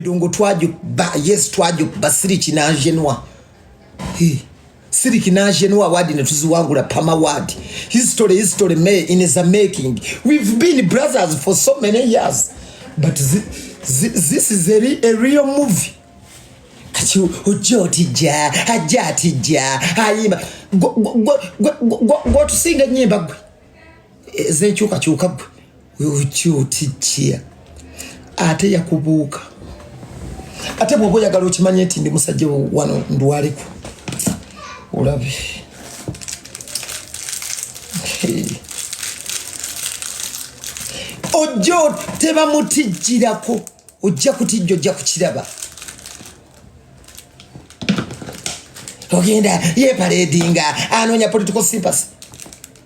Dongo twaju ba yes twaju basiri kinajenwa. He siri kinajenwa wadi ne tuziwangula pama wadi. History history me in is a making. We've been brothers for so many years. But zi, zi, this is a, re, a real movie. Kati ojja otijja, ajja atijja, ayimba. Gwe tusinga nyimba gwe. ezenkyukakyuka gwe okyotijja ate yakubuuka ate bwoba oyagala okimanye nti ndi musajja wano ndwaliku olabe ojja tebamutijjirako ojja kutijja ojja kukiraba ogenda yeparedinga anoonya political sympathy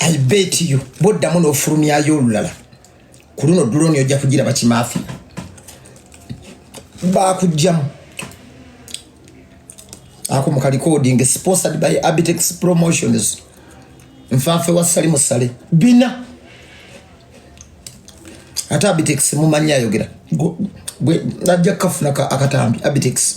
I bet you boddamu n'ofulumyayo olulala ku luno duloni ojja kugira bakimaafi bakujjamu ako mukalikodinge sponsored by abitex promotions nfanfe wa sali musale bina ate abitex mumanyi ayogera ajja kukafuna akatambi abitex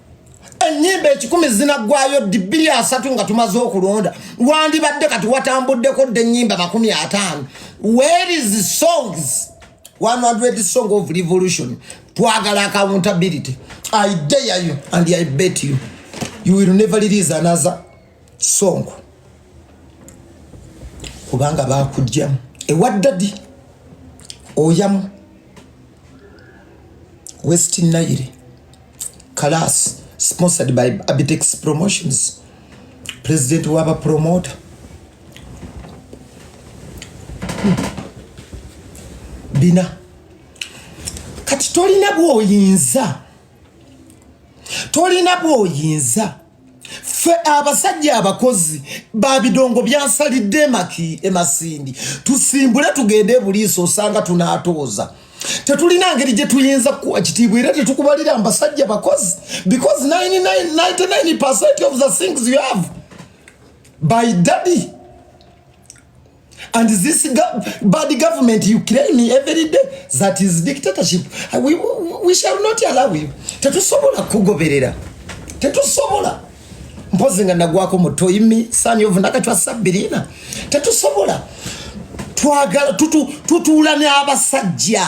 enyimba ekikumi zinagwayo ddi bbiri asatu nga tumaze okulonda wandibadde kati watambuddeko dde enyimba makumi ataano where is songs 100 song of revolution twagala accountability i dare you and i bet you you will never release another sonko kubanga bakujjamu ewaddadi oyamu west nile kalas sponsored by abitex promotions president waba promota hmm. bina kati tolina bwoyinza tolina bwoyinza ffe abasajja abakozi babidongo byansalidde emaki emasindi tusimbule tugende ebuliiso osanga tunatooza tetulina ngeri gye tuyinza kukuwa kitiibwa era tetukubalira mbasajja bakozi because 99 of the things you have by daddy And this go bad government you claim every day that is dictatorship. Uh, we, we, we shall not allow you. Tetusobola kugoberera. Tetusobola. Mpozi nga nagwako muto imi sani ovu nakachwa sabirina. Tetusobola. Tuagala tutu tutuula ne abasajja.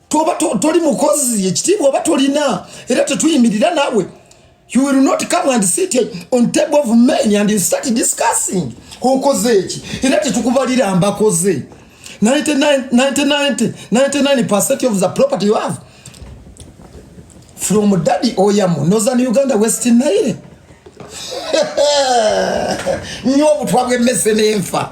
toba toli mukozi ekitiibwa oba tolina era tetuyimirira nawe you will not come and sit on table of men and start discussing okoze eki era tetukubalira mbakoze 99% of the property you have from daddy oyamu northern uganda west nile nyo obutwa bw'emmese n'enfa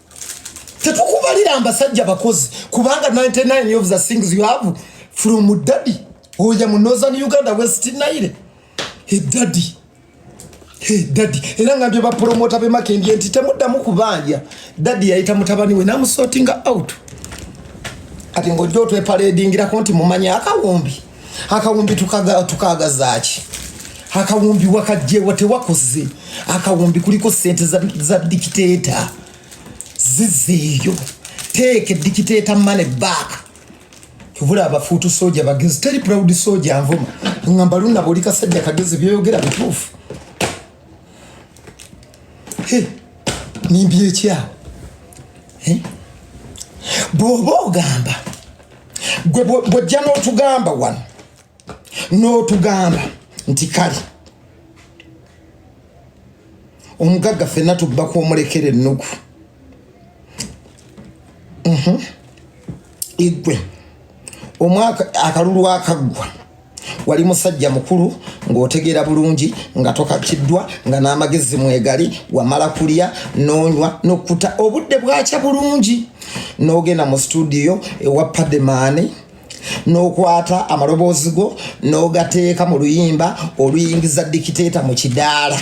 tetukubalira mbasajja bakozi kubanga 99 of the things you have from daddy oya mu northern uganda west nile he daddy he daddy era ngambye bapromota bemakendye nti temuddamu kubanja daddy yayita mutabani we namusotinga out ati ngojja otwepaledingirako nti mumanya akawumbi akawumbi tukagazaaki akawumbi wakajjewa tewakoze akawumbi kuliko sente za, za dikiteeta zizeeyo teeka edikiteeta mane back tubula abafuutu soja bagezi teri proud soja nvuma ngamba luna buli kasajja kagezi byoyogera bituufu nimbyekyawo bwoba ogamba gwe bwojja n'otugamba wano n'otugamba nti kale omugagga fenna tubba kwomulekera ennugu mhm. igwe omwaka akalulu akaggwa wali musajja mukulu ng'otegeera bulungi nga tokatiddwa nga n'amagezi mwegali wamala kulya n'onywa n'okkuta obudde bwakya bulungi n'ogenda mu situdiyo ewa pademaani n'okwata amaloboozi go n'ogateeka mu luyimba oluyingiza dikiteeta mu kidaala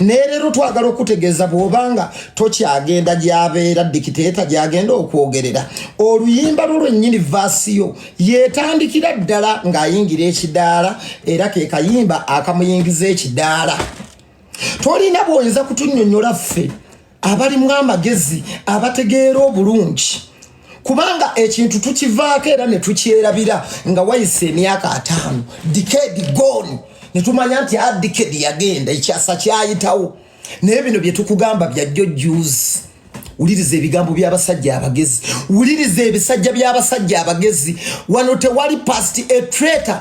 naye leero twagala okutegeeza bw'obanga tokyagenda gyabeera dikiteeta gyagenda okwogerera oluyimba lwo lwennyini vaasiyo yetandikira ddala ng'ayingira ekidaala era ke kayimba akamuyingiza ekidaala tolina bwoyinza kutunyonyola ffe abalimu amagezi abategeera obulungi kubanga ekintu tukivaako era ne tukyerabira nga wayise emyaka ataano dikedi goni ne tumanya nti a ah, dikedi yagenda ekyasa kyayitawo naye bino bye tukugamba byajjo juzi wuliriza ebigambo by'abasajja abagezi wuliriza ebisajja by'abasajja abagezi wano tewali past a traitor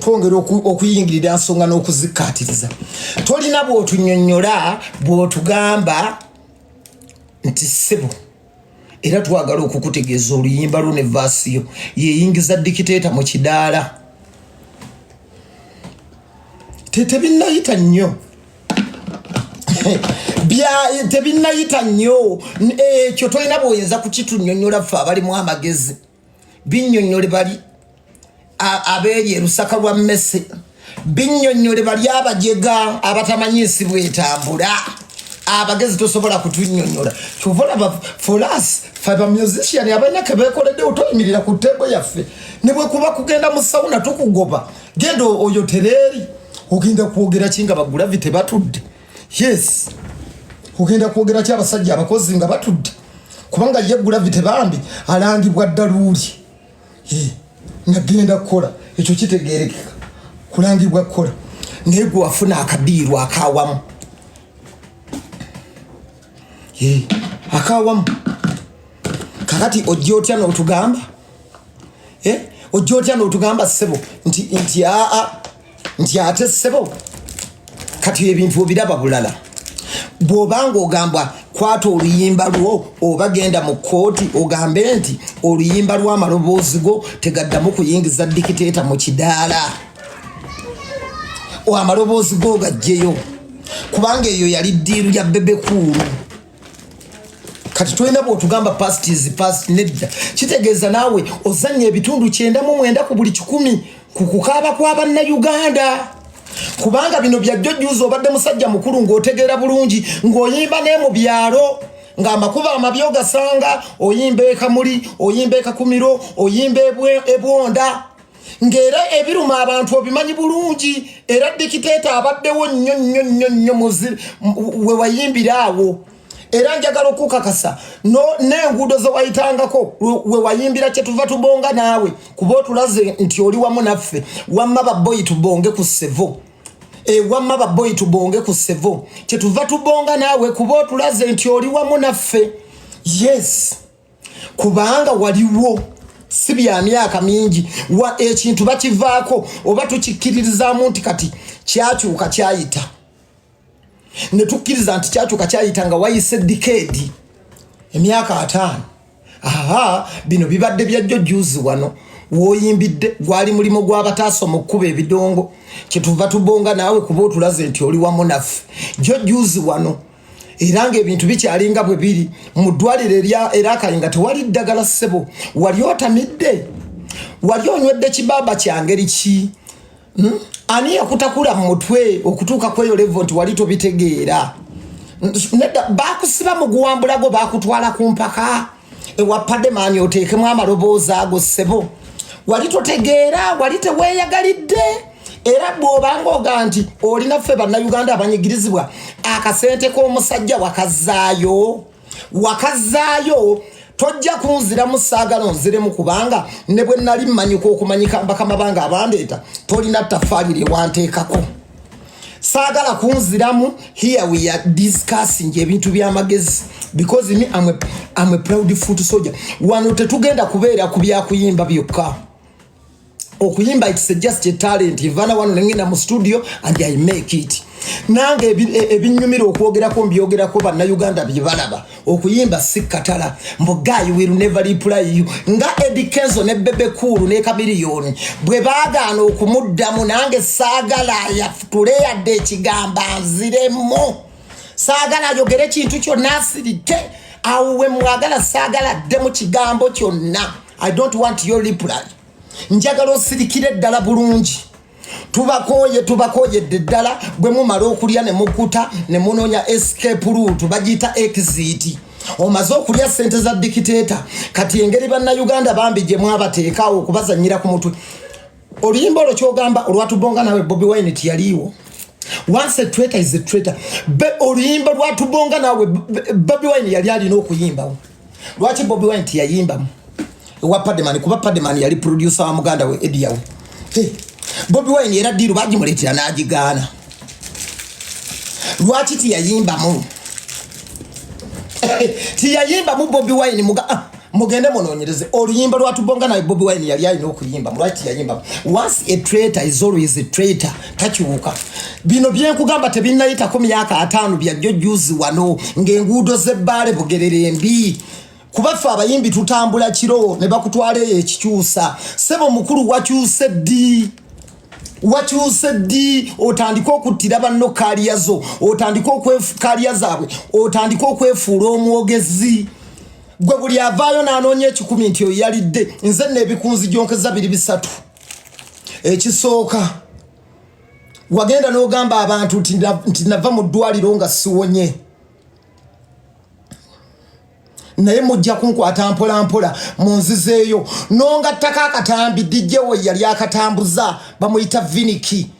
twongera okuyingirira nsonga n'okuzikkaatiriza tolina bw'otunyonnyola bw'otugamba nti ssebo era twagala okukutegeeza oluyimba lwo ne vaasiyo yeyingiza dikiteeta mu kidaala tetebinnayita nnyo tebinnayita nnyo ekyo tolina bwoyinza kukitunyonyola ffe abalimu amagezi binyonyole bali abeeri erusaka lwa mmese binyonyole bali abajega abatamanyi nsi bwetambula abagezi tosobola kutunyonyola kyova olaba folas fe bamusician abalina kebekoledde otoyimirira ku tebo yaffe nebwekuba kugenda mu sauna tukugoba genda oyo tereeri ogenda kwogera ki nga bagulavite batudde yes ogenda kwogera ki abasajja abakozi nga batudde kubanga ye gulavity bambi alangibwa ddaluuli nagenda kukola ekyo kitegerekeka kulangibwa kukola naye gwe wafuna akadiiru akawamu akawamu kakati ojja otya notugamba ojja otya notugamba sebo nti aa nti ate sebo kati ebintu obiraba bulala bwoba nga ogamba kwata oluyimba lwo oba genda mu kooti ogambe nti oluyimba lwamaloboozi go tegaddamu kuyingiza dikiteeta mu kidaala amaloboozi go gajjeyo kubanga eyo yali ddiiru ya bebekuulu kati tolina bwotugamba past is past nedda kitegeeza naawe ozannya ebitundu kyenda mu mwenda ku buli kikumi ku kukaaba kwa bannayuganda kubanga bino byajjojjuuza obadde musajja mukulu ng'otegeera bulungi ng'oyimba ne mu byalo ng'amakubo amabi ogasanga oyimba ekamuli oyimba ekakumiro oyimba ebwonda ng'era ebiruma abantu obimanyi bulungi era dikiteeta abaddewo nnyo nnyo nnyo nnyo we wayimbira awo era njagala okukakasa n'enguudo ze wayitangako we wayimbira kye tuva tubonga naawe kuba otulaze nti oli wamu naffe wamma baboyi tubonge ku sevo ewamma eh, baboyi tubonge ku sevo kye tuva tubonga naawe kuba otulaze nti oli wamu naffe yes kubanga waliwo si bya myaka mingi wa ekintu bakivaako oba tukikkiririzamu nti kati kyakyuka kyayita ne tukkiriza nti kyakyuka kyayita nga wayise dikeedi emyaka ataano aha bino bibadde byajjo juzi wano woyimbidde gwali mulimu gw'abataasa omukukuba ebidongo kyetuva tubonga naawe kuba otulaze nti oli wamu naffe jjo juzi wano era ng'ebintu bikyalinga bwe biri mu ddwaliro erakayi nga tewali ddagala ssebo wali otamidde wali onywedde kibaaba kyangeri ki hmm? ani yakutakula mu mutwe okutuuka kweyo levo nti wali tobitegeera nedda bakusiba mu guwambulago bakutwala ku mpaka ewapade maanyi oteekemu amaloboozi ago ssebo wali totegeera wali teweeyagalidde era bw'obanga oga nti olina ffe bannayuganda abanyigirizibwa akasente k'omusajja wakazaayo wakazaayo tojja kunziramu saagala onziremu kubanga ne bwe nali mmanyika okumanyika bakama bange abandeeta tolina ttafaali lye wanteekako saagala kunziramu here we are discussing ebintu byamagezi because me I'm a, I'm a proud foot soldier wano tetugenda kubeera ku byakuyimba byokka okuyimba it's just a talent ivana wano nengenda mu studio and i make it nange ebinyumira okwogerako mbyogerako bannauganda byebalaba okuyimba si katala mbu guy will never reply you nga Eddie Kenzo ne Bebe Cool ne Chameleone bwe baagaana okumuddamu nange saagala yafutule yadde ekigamba nziremu saagala ayogere kintu kyonna asirike awo we mwagala saagala adde mu kigambo kyonna i don't want your reply njagala osirikire ddala bulungi tubakooye tubakooyedde ddala bwe mumala okulya ne mukuta ne munoonya escape route bagiyita exit omaze okulya sente za dikiteeta kati engeri bannayuganda bambi gye mwabateekaawo okubazanyira ku mutwe oluyimba olwo kyogamba olwatubonga nawe bobi wine tiyaliiwo once a traitor is a traitor be oluyimba lwatubonga nawe bobi wine yali alina okuyimbawo lwaki bobi wine tiyayimbamu ewa pademani kuba pademani yali producer wa muganda we ediyawe hey. bobi wine era diiru bagimuleetera n'agigaana lwaki tiyayimbamu tiyayimbamu bobi wine muga ah, mugende munonyereze oluyimba lwatubonga naye bobi wine yali alina okuyimbamu lwaki tiyayimbamu once a traitor is always a traitor takyuka bino byenkugamba tebinnayitako myaka ataano byajjo juzi wano ng'enguudo z'ebbaale bugerere embi kuba ffe abayimbi tutambula kiro ne bakutwala eyo ekikyusa sebo mukulu wakyuse ddi wakyuse ddi otandike okuttira banno kaaliya zo otandike kaaliya zaabwe otandike okwefuula omwogezi gwe buli avaayo n'anoonya ekikumi nti oyo yalidde nze neebikunzi gyonkeza biri bisatu ekisooka wagenda n'ogamba abantu nti nava mu ddwaliro nga siwonye naye mujja kunkwata mpola mpola munzizeeyo nongattako akatambi dijjewo yali akatambuza bamuyita viniki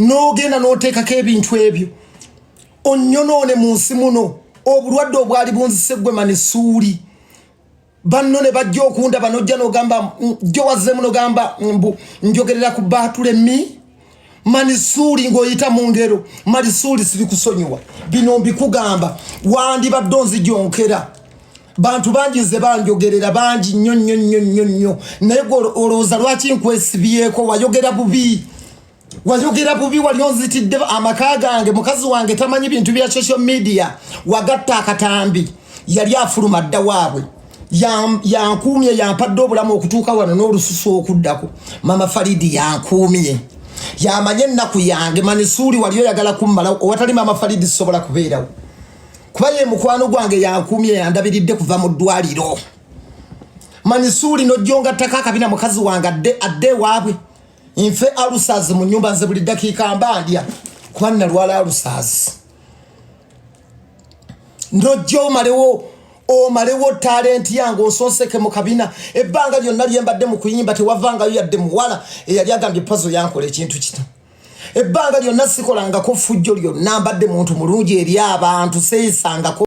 n'ogenda n'oteekako ebintu ebyo onyonoone mu nsi muno obulwadde obwali bunzise gwe mani suuli banno ne bajja okunda banojja nogamba jjo wazzemu nogamba mbu njogerera ku baatule mi mani suuli ng'oyita mu ngero mani suuli siri kusonyiwa bino mbikugamba wandibadde onzijonkera bantu bangi nze banjogerera bangi nnyo nnyo nnyo nnyo nnyo naye gwe olowooza lwaki nkwesibyeko wayogera bubi wayogera bubi wali onzitidde amaka gange mukazi wange tamanyi bintu bya social media wagatta akatambi yali afuluma dda waabwe yankuumye yampadde obulamu okutuuka wano n'olususu okuddako mama faridi yankuumye yamanye ennaku yange manisuuli wali oyagala kummalawo owatali mama faridi sisobola kubeerawo kuba ye mukwano gwange yankuumye yandabiridde kuva mu ddwaliro manisuuli nojjongattako akabina mukazi wange adde adde ewaabwe nfe alusaazi mu nyumba nze buli ddakiika mba ndya kuba nnalwala alusaazi nojja omalewo omalewo talenti yange osonseke mu kabina ebbanga lyonna lyembadde mu kuyimba tewavangayo yadde muwala eyali agambye pazo yankola ekintu kino ebbanga lyonna sikolangako ffujjo lyonna mbadde muntu mulungi eri abantu seesangako